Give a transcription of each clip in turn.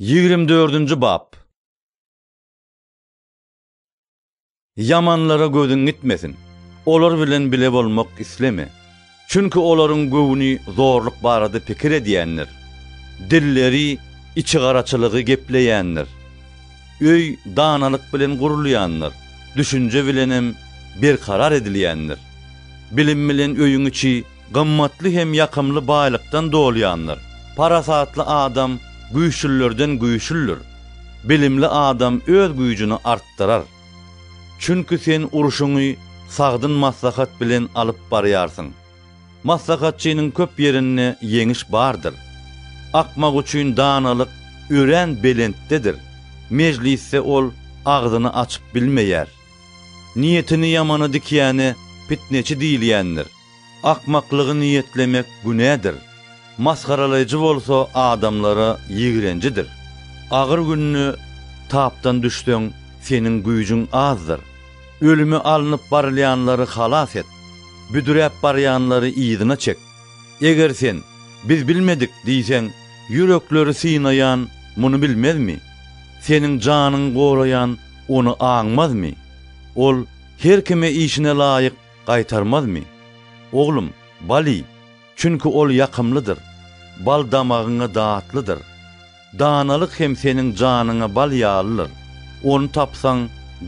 Ýigrimi dördünji bap. Ýamanlara gözüň gitmesin. Olar bilen bile bolmak isleme. Çünki olaryň göwni zorluk barada pikir edýändir. Dilleri içigaraçylygy gepleýändir. Öý danalyk bilen gurulýandyr, düşünje bilenem berkarar edilýändir. Bilim bilen öýüň içi Gymmatly hem ýakymly baýlykdan dolýandyr. Parasatly adam güýçlülerden güýçlüdir. Bilimli adam öz güýjüni artdyrar. Çünki sen urşuňy sagdyn maslahat bilen alyp barýarsyň. Maslahatçynyň köp ýerinde ýeňiş bardyr. Akmak üçin danalyk örän belentdedir. Mejlisde ol agzyny açyp bilmeýär. Niýetini ýamana dikýäne pitneçi diýilýändir. Akmaklygy niýetlemek günädir, masgaralaýjy bolsa adamlara ýigrenjidir. Agyr günde tapdan düşseň, seniň güýjüň azdyr. Ölüme alnyp barylýanlary halas et, büdräp barýanlary yzyna çek. Eger sen, Biz bilmedik diýseň, ýürekleri synaýan muny bilmezmi? Seniň janyňy goraýan ony aňmazmy? Ol her kime işine laýyk Gaýtarmazmy? Oglum, bal iý, çünki ol ýakymlydyr, bal damagyňa datlydyr. Danalyk hem seniň janyňa bal ýalydyr, ony tapsaň,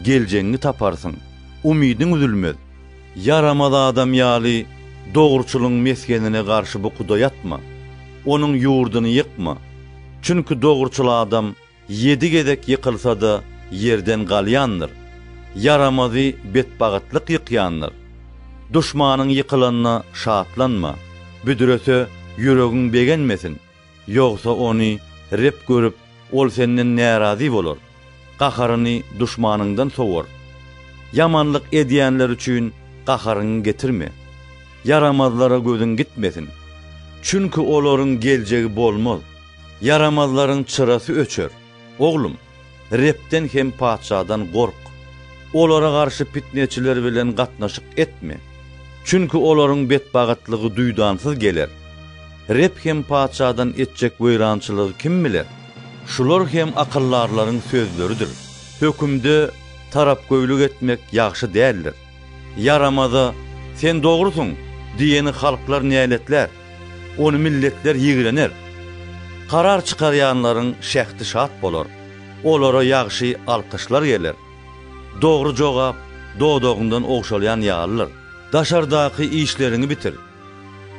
geljegiňi taparsyň, umydyň üzülmez. Ýaramaz adam ýaly dogruçylyň mesgenine garşy bukuda ýatma, onuň ýurduny ýykma, çünki dogruçyl adam Ýedi gezek ýykylsa-da, ýerden galýandyr, Ýaramazy betbagytlyk ýykýandyr. Duşmanyň ýykylanyna şatlanma, Büdrese, ýüregiň begenmesin, Ýogsa ony Reb görüp, Ol senden närazy bolar, Gaharyny duşmanyňdan sowar. Ýamanlyk edýänler üçin gaharyňy getirme, Ýaramazlara gözüň gitmesin, Çünki olaryň geljegi bolmaz. Ýaramazlaryň çyrasy öçer. Oglum, Rebden hem patyşadan gork. Olara garşy pitneçiler bilen gatnaşyk etme. Çünki olaryň betbagytlygy duýdansyz geler. Reb hem patyşadan etjek weýrançylygy kim biler? Şular hem akyldarlaryň sözleridir. Hökümde tarapgöýlik etmek ýagşy däldir. Ýaramaza, sen dogrusyň! diýeni halklar näletlär, ony milletler ýigrener. Karar çykarýanlaryň şähdi şat bolar, olara ýagşy alkyşlar geler. Dogry jogap dodagyňdan ogşalýan ýalydyr. Daşardaky işleriňi bitir.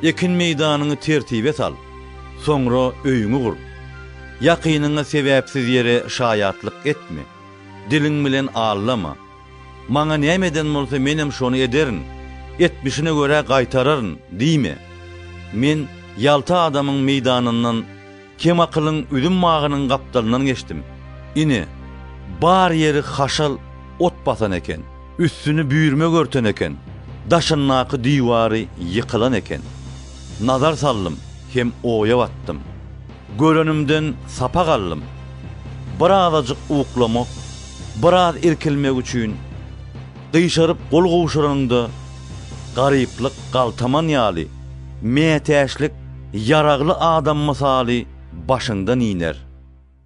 Ekin meýdanyňy tertibe sal. Soňra öýüňi gur. Ýakynyňa sebäpsiz ýere şaýatlyk etme. Diliň bilen aldama. Maňa näme eden bolsa menem şony ederin, etmişine görä gaýtararyn diýme. Men ýalta adamyň meýdanyndan, kemakylyň üzüm bagynyň gapdalyndan geçdim. Ine, bar ýeri haşal ot basan eken, üstüni büýrmek örten eken, daşyndaky diwary ýykylan eken. Nazar saldym hem oýa batdym. Görenimden sapak aldym. Birazajyk uklamak, biraz irkilmek üçin gyşaryp gol gowşuranyňda garyplyk galtaman ýaly, mätäçlik ýaragly adam mysaly başyňdan iner.